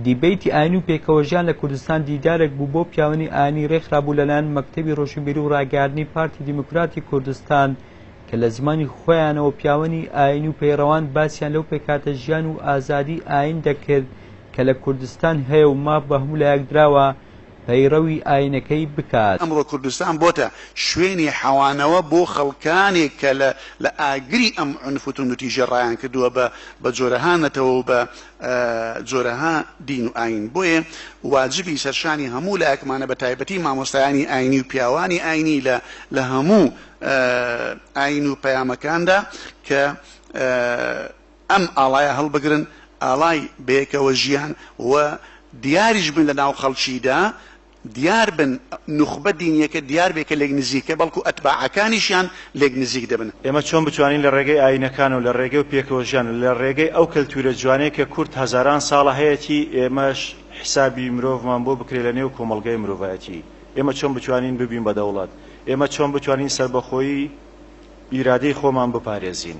دیبەیتی ئاینی و پێکەوەژیان لە کوردستان دیدارێک بوو بۆ پیاوانی ئاینی رێکخرابوو لەلایەن مەکتەبی رۆشنبیری و راگەیاندنی پارتی دیموکراتی کوردستان کە لە زمانی خۆیانەوە پیاوانی ئاینی و پەیڕەوان باسیان لەو پێکهاتە ژیان و ئازادی ئاین دەکرد کە لە کوردستان هەیە و ماف بە هەموو لایەک دراوە پەیڕەوی ئاینەکەی بکات. ئەمڕۆ کوردستان بۆتە شوێنی حەوانەوە بۆ خەڵکانێک کە لە لە ئاگری ئەم عونف و توندوتیژیە ڕایان کردووە بە بە جۆرەها نەتەوە و بە جۆرەها دین و ئاین بۆیێ واجبی سەرشانی هەموو لایەکمانە بە تایبەتی مامۆستایانی ئاینی و پیاوانی ئاینی لە لە هەموو ئاین و پەیامەکاندا کە ئەم ئاڵایە هەڵبگرن، ئاڵای بەیەکەوە ژیان، و دیاریش بن لەناو خەڵکیدا، دیار بن، نوخبە دینیەکە دیار بێ کە لێک نزیکە، بەڵکو ئەتباعەکانیشیان لێک نزیک دەبن. ئێمە چۆن بتوانین لە ڕێگەی ئاینەکان و لە ڕێگەی و پێکەوە ژیان و لە ڕێگەی ئەو کەلتوورە جوانەی کە کورد هەزاران ساڵە هەیەتی، ئێمەش حیسابی مرۆڤمان بۆ بکرێ لە نێو کۆمەڵگای مرۆڤایەتی؟ ئێمە چۆن بتوانین ببین بە دەوڵەت؟ ئێمە چۆن بتوانین سەربەخۆیی ئیرادەی خۆمان بپارێزین؟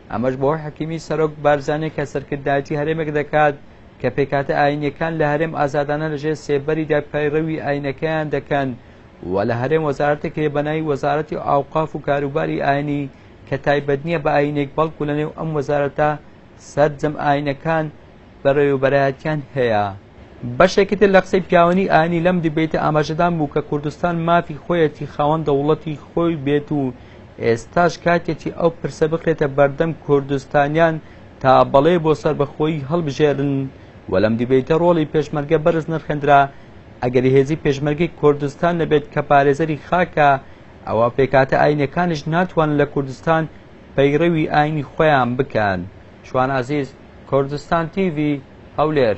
ئەمەش بۆ حەکیمی سەرۆک بارزانی کە سەرکردایەتی هەرێمێک دەکات کە پێکهاتە ئاینیەکان لە هەرێم ئازادانە لەژێر سێبەریدا پەیڕەوی ئاینەکەیان دەکەن و لە هەرێم وەزارەتێک هەیە بەناوی وەزارەتی ئاوقاف و کاروباری ئاینی کە تایبەت نییە بە ئاینێک بەڵکو لەنێو ئەم وەزارەتە سەرجەم ئاینەکان بەڕێوەبەرایەتیان هەیە. بەشێکی تر لە قسەی پیاوانی ئاینی لەم دیبەیتە ئاماژەدان بوو کە کوردستان مافی خۆیەتی خاوەن دەوڵەتی خۆی بێت و ئێستاش کاتێتی ئەو پرسە بخرێتە بەردەم کوردستانیان تا بەڵێ بۆ سەربەخۆیی هەڵبژێرن و لەم دیبەیتە ڕۆڵی پێشمەرگە بەرز نرخێندرا ئەگەر هێزی پێشمەرگەی کوردستان نەبێت کە پارێزەری خاکە ئەوە پێکاتە ئاینەکانیش ناتوانن لە کوردستان پەیڕەوی ئاینی خۆیان بکەن شوان عزیز کوردستان تیڤی هەولێر.